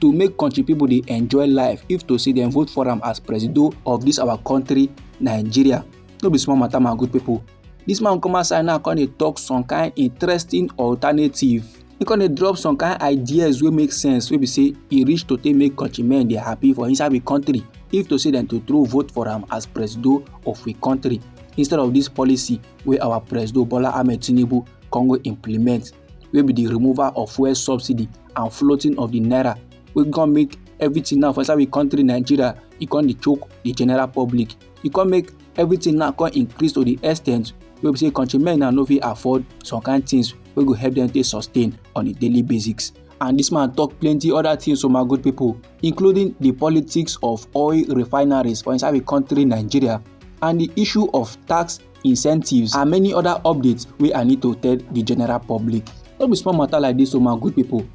to make country people dey enjoy life if to say dem vote for am as presido of this our country nigeria no be small matter my good people this man come outside now come dey talk some kind interesting alternative he come dey drop some kind ideas wey make sense wey be say e reach to take make country men dey happy for inside the country if to say dem to throw vote for am as presido of the country instead of this policy wey our presido bola ahmed tinubu come go implement wey be the removal of fuel subsidy and floating of the naira wey come make everything now for inside we country nigeria e come dey choke the general public e come make everything now come increase to the extent wey be say countrymen now no fit afford some kind things wey go help them take sustain on a daily basis and this man talk plenty other things to my good people including the politics of oil refineries for inside the country nigeria and the issue of tax incentives and many other updates wey i need to tell the general public no be small matter like this o oh my good people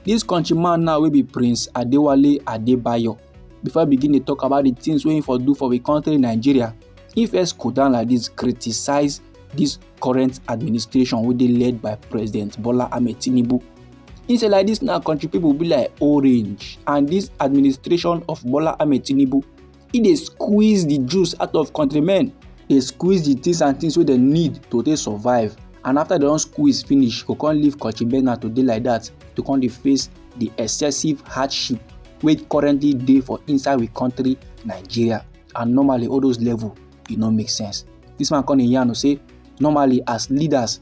this country man now wey be prince adewale adebayo before i begin dey talk about the things wey he for do for the country nigeria he first go down like this criticize this current administration wey dey led by president bola ahmed tinubu he say like this now country people be like orange and this administration of bola ahmed tinubu e dey squeeze the juice out of countrymen dey squeeze the things and things wey dem need to take survive and after dem don squeeze finish go come leave country bena to dey like that to come dey face the excessive hardship wey currently dey for inside we country nigeria and normally all those level e no make sense this man come dey yarn say normally as leaders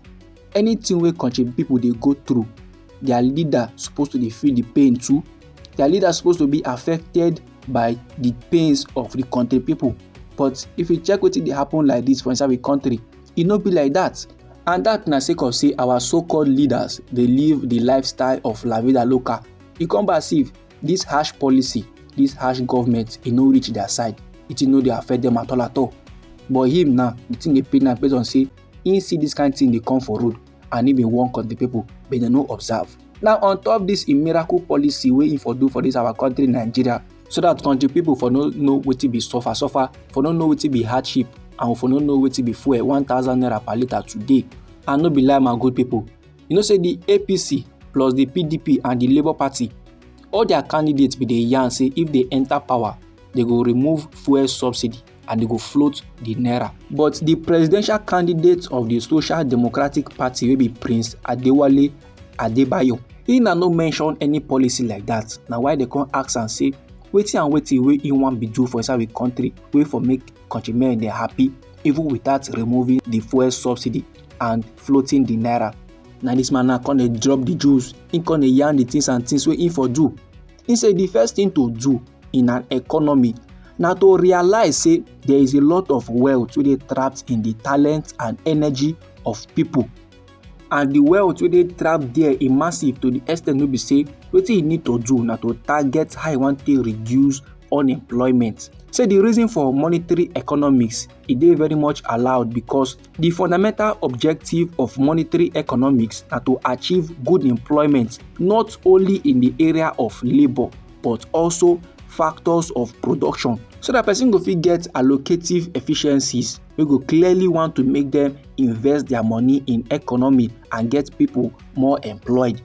anything wey country people dey go through their leader supposed to dey feel the pain too their leader supposed to be affected by the pains of the country people but if you check wetin dey happen like this for inside the country e no be like that and that na sake of say our so-called leaders dey live the lifestyle of la vida loca e come back see this harsh policy this harsh government e no reach their side it no dey affect them at all at all but him now the thing dey pain am based on say he see this kind thing dey come for road and im bin warn country pipo but dem no observe. Now on top dis im miracle policy wey im for do for dis our country Nigeria so dat country pipo for no know wetin be suffer suffer, for no know wetin be hardship and for no know wetin be fuel one thousand naira per litre today and no be lie my good pipo. You know say di APC plus di PDP and di Labour Party all dia candidates bin dey yarn say if dey enta power dey go remove fuel subsidy. and e go float di naira. But di presidential candidate of di Social Democratic Party wey be Prince Adewale Adebayo, he na no mention any policy like dat, na why dem come ask am say wetin and wetin wey he wan be do for inside we country wey for make countrymen dey happy even without removing di fuel subsidy and floating di naira. Na dis man now come dey drop di juice, he come dey yarn di things and things wey he for do he say the first thing to do in an economy na to realize say there is a lot of wealth wey dey trapped in the talent and energy of people and the wealth wey dey trapped there e massive to the extent wey be say wetin you need to do na to target how you wan take reduce unemployment say the reason for monetary economics e dey very much allowed because Di fundamental objective of monetary economics na to achieve good employment not only in di area of labour but also factors of production so dat person go fit get allocative efficiencies wey go clearly want to make dem invest their money in economy and get people more employed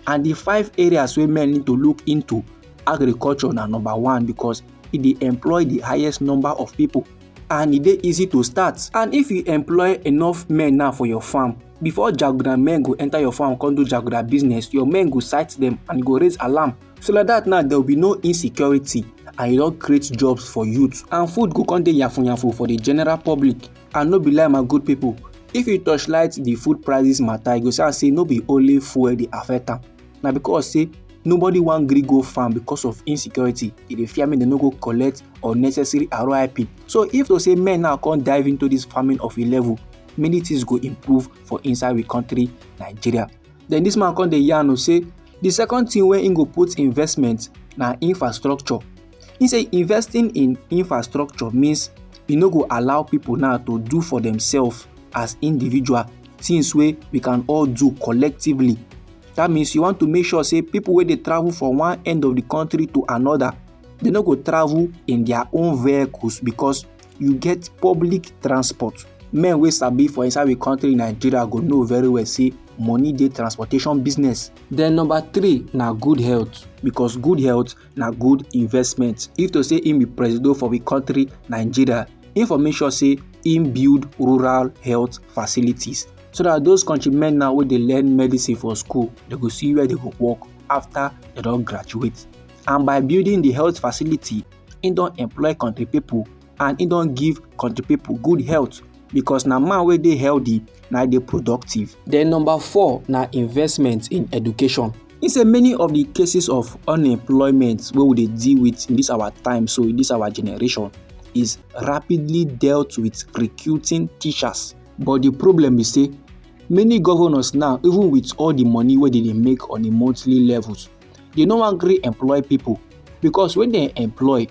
and di five areas wey men need to look into agriculture na number one because e dey employ di highest number of people. and e dey easy to start and if you employ enough men now for your farm before jaguda men go enter your farm come do jaguda business your men go sight them and go raise alarm so like that now there will be no insecurity and e don create jobs for youth and food go come dey yafun yafun for the general public and no be lie my good people if you torchlight the food prices matter you go see am say no be only fuel dey affect am na because say nobody wan gree go farm because of insecurity e dey fear make dem no go collect unnecessary rip so if to say men now come dive into this farming of a level many things go improve for inside we country nigeria then this man come dey yarn o say the second thing wey im go put investment na infrastructure he say investing in infrastructure means e no go allow people now to do for themselves as individual things wey we can all do collectively that means you want to make sure say people wey dey travel from one end of the country to another they no go travel in their own vehicles because you get public transport men wey sabi for inside the country nigeria go know very well say money dey transportation business. then number three na good health because good health na good investment if to say im be presido for the country nigeria im for make sure say im build rural health facilities so that those country men now wey dey learn medicine for school they go see where they go work after they don graduate and by building the health facility he don employ country people and he don give country people good health because na man wey dey healthy na dey productive. then number four na investment in education He say many of the cases of unemployment wey we dey deal with in this our time so in this our generation is rapidly dealt with recruiting teachers but di problem be say many governors now even with all di money wey dem dey make on a monthly level dey no wan gree employ pipo because when dem employ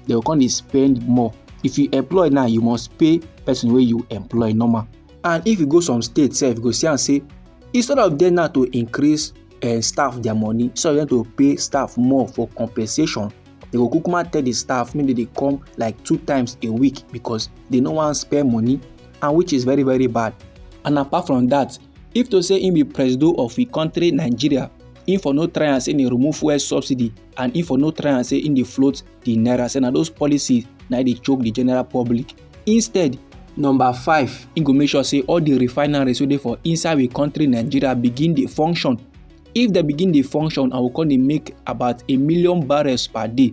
dem go come dey spend more if you employ now you must pay person wey you employ normal and if you go some state sef you go see am say instead of dem now to increase uh, staff their money instead of them to pay staff more for compensation they go kukuma tell the staff make they dey come like two times a week because they no wan spend money and which is very very bad and apart from that if to say im be presido of im country nigeria im for no try am say im remove fuel subsidy and im for no try am say im dey float di naira say na those policies na dey choke di general public instead number five im go make sure say all di refineries wey dey for inside we country nigeria begin dey function if dem begin dey function and we come dey make about a million barrels per day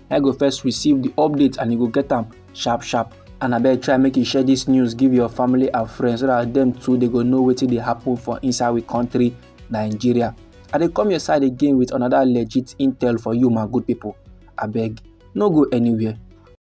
na you go first receive the update and you go get am sharp sharp and abeg try make you share this news give your family and friends so that them too they go know wetin dey happen for inside we country nigeria i dey come your side again with another legit intel for you my good people abeg no go anywhere